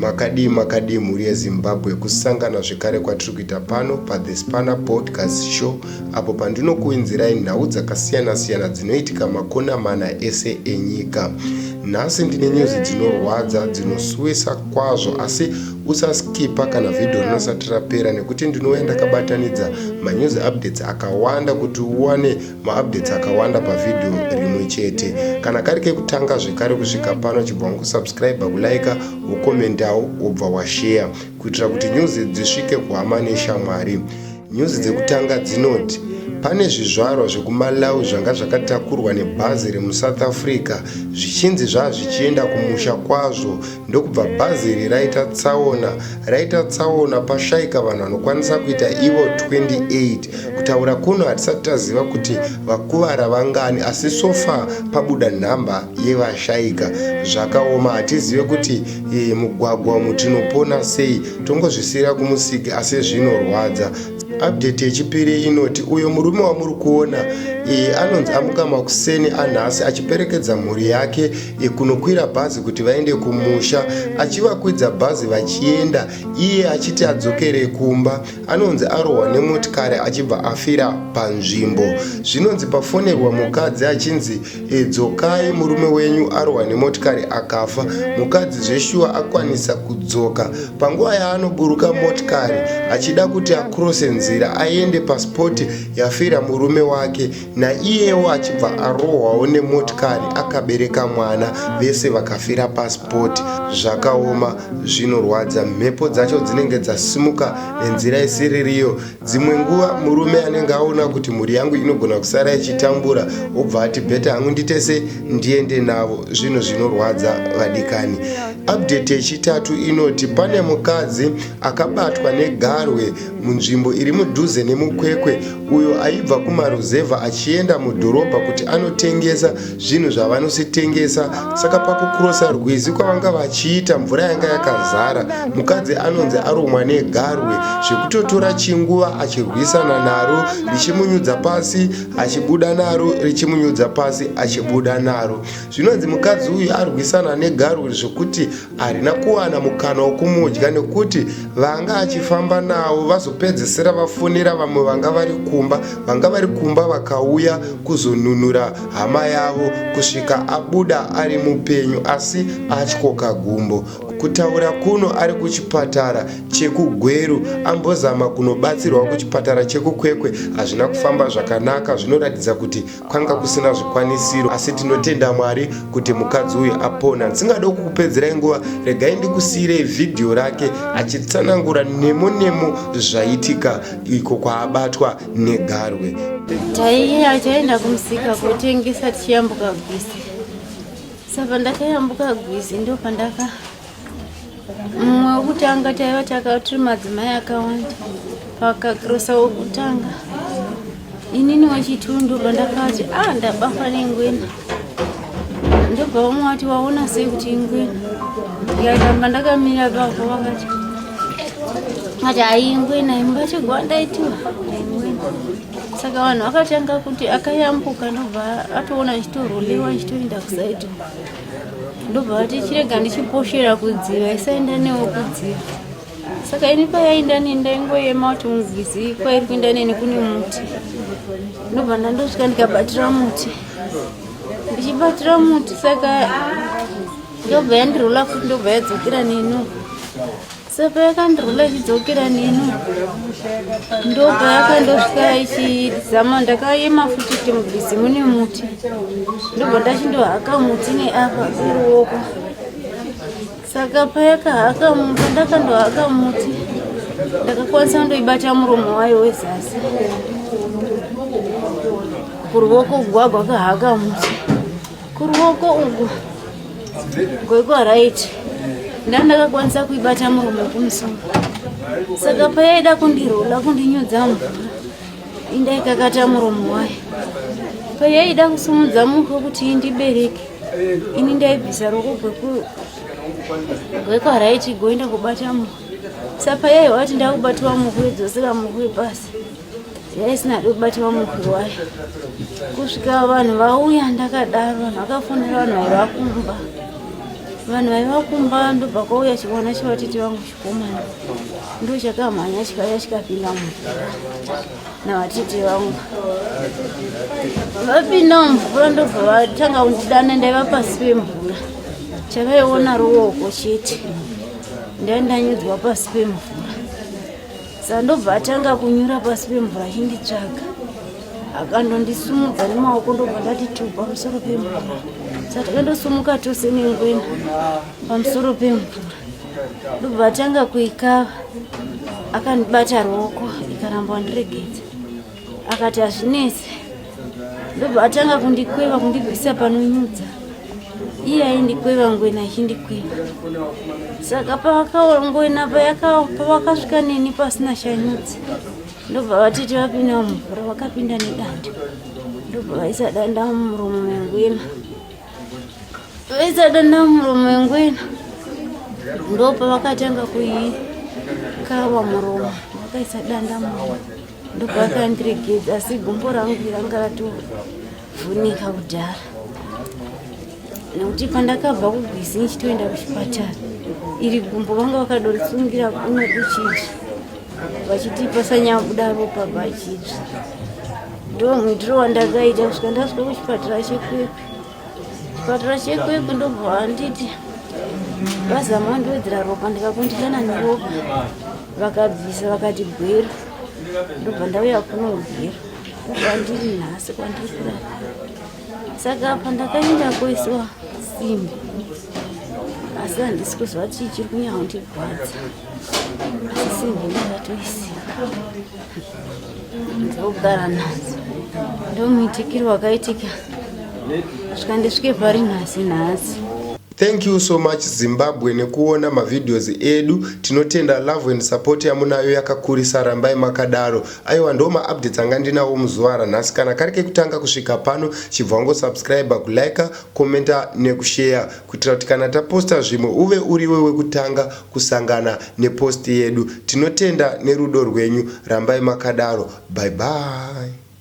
makadii makadii mhuri yezimbabwe kusangana zvekare kwatiri kuita pano pathe spana podcast show apo pandinokuinzirai nhau dzakasiyana-siyana dzinoitika makona mana ese enyika nhasi ndine nyuzi dzinorwadza dzinosuwisa kwazvo asi Usaskipa kana vhidho rinosati rapera nekuti ndinouya ndakabatanidza manews updates akawanda kuti uwane maupdates akawanda pavhidho rimwe chete. Kana kari kekutanga zvekare kusvika pano chibva wankusubscriber, kulaika, wokomentawo wobva washeya kuitira kuti news dzisvike kuhama neshamwari. Nyuzi dzekutanga dzinoti pane zvizvarwa zvekuMalawi zvanga zvakatakurwa nebhazi remuSouth Africa zvichinzi zvazvichienda kumusha kwazvo ndokubva bhazi iri raita tsaona raita tsaona pashaika vanhu vanokwanisa kuita ivo 28 kutaura kuno hatisati taziva kuti vakuvara vangani asi sofa pabuda nhamba yevashaika zvakaoma hatizive kuti Iyi mugwagwa umu tinopona sei tongozvisiyira kumusiki asi zvinorwadza update yechipiri inoti uyo murume wamuri kuona iyi anonzi amuka makuseni anhasi achiperekedza mhuri yake yekunokwira bhazi kuti vaende kumusha achivakwidza bhazi vachienda iye achiti adzokere kumba anonzi arohwa nemotikari achibva afira panzvimbo zvinonzi pafonerwa mukadzi achinzi E, dzokai murume wenyu arohwa nemotikari akafa mukadzi zveshuwa akwanisa kudzoka panguva yaanoburuka motikari achida kuti akrose nzira aende paspoti yafira murume wake naiyewo achibva arohwawo nemotikari akabereka mwana vese vakafira paspoti zvakaoma zvinorwadza mhepo dzacho dzinenge dzasimuka nenzira isiririyo dzimwe nguva murume anenge aona kuti mhuri yangu inogona kusara ichitambura obva ati bheta hangu nditese ndiende navo zvinhu zvinorwadza vadikani update yechitatu inoti pane mukadzi akabatwa negarwe munzvimbo iri mudhuze nemukwekwe uyo aibva kumaruzevha achienda mudhorobha kuti anotengesa zvinhu zvavanositengesa saka pakukurosa rwizi kwavanga vachiita mvura yanga yakazara mukadzi anonzi arumwa negarwe zvekutotora chinguva achirwisana naro richimunyudza pasi achibuda naro richimunyudza pasi achibuda naro zvinonzi mukadzi uyu arwisana negarwe zvekuti arina kuwana mukana wokumudya nekuti vanga achifamba nawo vazopedzesera vafonera vamwe vanga vari kumba vanga vari kumba vakauya kuzonunura hama yavo kusvika abuda ari mupenyu asi atyoka gumbo kutaura kuno ari kuchipatara chekugweru ambozama kunobatsirwa kuchipatara chekukwekwe hazvina kufamba zvakanaka zvinoratidza kuti kwanga kusina zvikwanisiro asi tinotenda mwari kuti mukadzi uyu apona ndisingade kukupedzerai nguva regai ndikusiirei vhidhiyo rake achitsanangura nemo nemo zvaitika iko kwaabatwa negarwe taiye achaenda kumusika kotengesa tichiyambuka gwisi saka ndakayambuka gwisi ndopandaka mumwe wekutanga taiva takatiri madzimai akawanda pakakrosa wekutanga inini wechitundu pandakati a ah, ndabafa nengwena ndobva vamwe vati waona sei kuti ingwena yaitamba ndakamira pavo vakati ati haingwena imbatigwandaitiwa saka vanhu vakatanga kuti akayambuka ndobva atoona achitorolewa achitoenda kusaidi ndobva vati chirega ndichiposhera kudziva isaenda newo kudziva saka ini payainda neni ndaingoyema kuti mubhizi kwairi kuinda neni kune muti ndobva ndandosvika ndikabatira muti ndichibatira muti saka ndobva yandirola futi ndobva yadzokera nenu saka yakandirwula ichidzokera neni ndobva yakandosvika ichizama ndakayema futi kuti mubhizi mune muti ndobva ndachindohaka muti neapa iruoko saka payakahaka muti ndakandohaka muti ndakakwanisa kundoibata muromo wayo wezasi kuruoko gwagwa kahaka muti kuruoko uku goiko right ndandakakwanisa kuibata murume kumusoro saka payaida kundirola kundinyudza mvura indaikakata muromo wayo payaida kusumudza muko kuti indibereke ini ndaibvisa roko gwekwa raiti goenda kubata muko sapayaiwa kuti ndakubatiwa muhwe dzosera muhwe pasi yaisina kubatwa mukuru wayo kusvika vanhu vauya ndakadaro vanhu vakafonera vanhu vaiva kumba vanhu vaiva kumba ndobva kwauya chivana chevatiti vangu chikomana ndochakamhanya chikaya chikapinda mumvura navatiti vangu vapinda mumvura ndobva vatanga kundidana ndaiva pasi pemvura chavaiona ruoko chete ndai ndanyudzwa pasi pemvura sandobva atanga kunyura pasi pemvura achinditsvaga akandondisumudza nemaoko ndobva ndati tu pamusoro pemvura satakandosumuka tose nengwena pamusoro pemvura ndobva atanga kuikava akandibata ruoko ikaramba ndiregedza akati hazvinetse ndobva atanga kundikweva kundibvisa panonyudza iye aindikweva ngwena achindikweva saka pavakangwena pavakasvika neni pasina shanyudzi ndobva vatiti vapinda mumvura vakapinda nedanda ndobva vaisa danda mumuromo mengwena vaisa danda mumuromo mengwena ndopa vakatanga kuikava muromo vakaisa danda muromo ndobva akandiregedza asi gumbo rangu ranga ratovhunika kudhara nekuti pandakabva kugwizi ndichitoenda kuchipatara iri gumbo vanga vakadorisungira kuno kuchitsva vachiti pasanyabuda ropa pachitsva ndo muitiro wandakaita kusvika ndasvika kuchipatara chekwekwe Kuchipatara chekwekwe ndobva vanditi vazama vandiwedzera ropa ndikakundikana neropa vakabvisa vakati gwero ndobva ndauya kuno gwero kwandiri nhasi kwandiri kurara saka apa ndakaenda koisiwa simbi asi handisi kuziva chii chiri kunyanya kundirwadza dzokugara nhasi ndomuitikiro wakaitika svika ndisvike pari nhasi nhasi thank you so much zimbabwe nekuona mavideos edu tinotenda love and support yamunayo yakakurisa rambai makadaro aiwa ndo maupdates anga ndinawo muzuva ranhasi kana kari kekutanga kusvika pano chibva wangosubscribe kulike commenta nekushare kuitira kuti kana taposta zvimwe uve uriwe wekutanga kusangana nepost yedu tinotenda nerudo rwenyu rambai makadaro bye bye.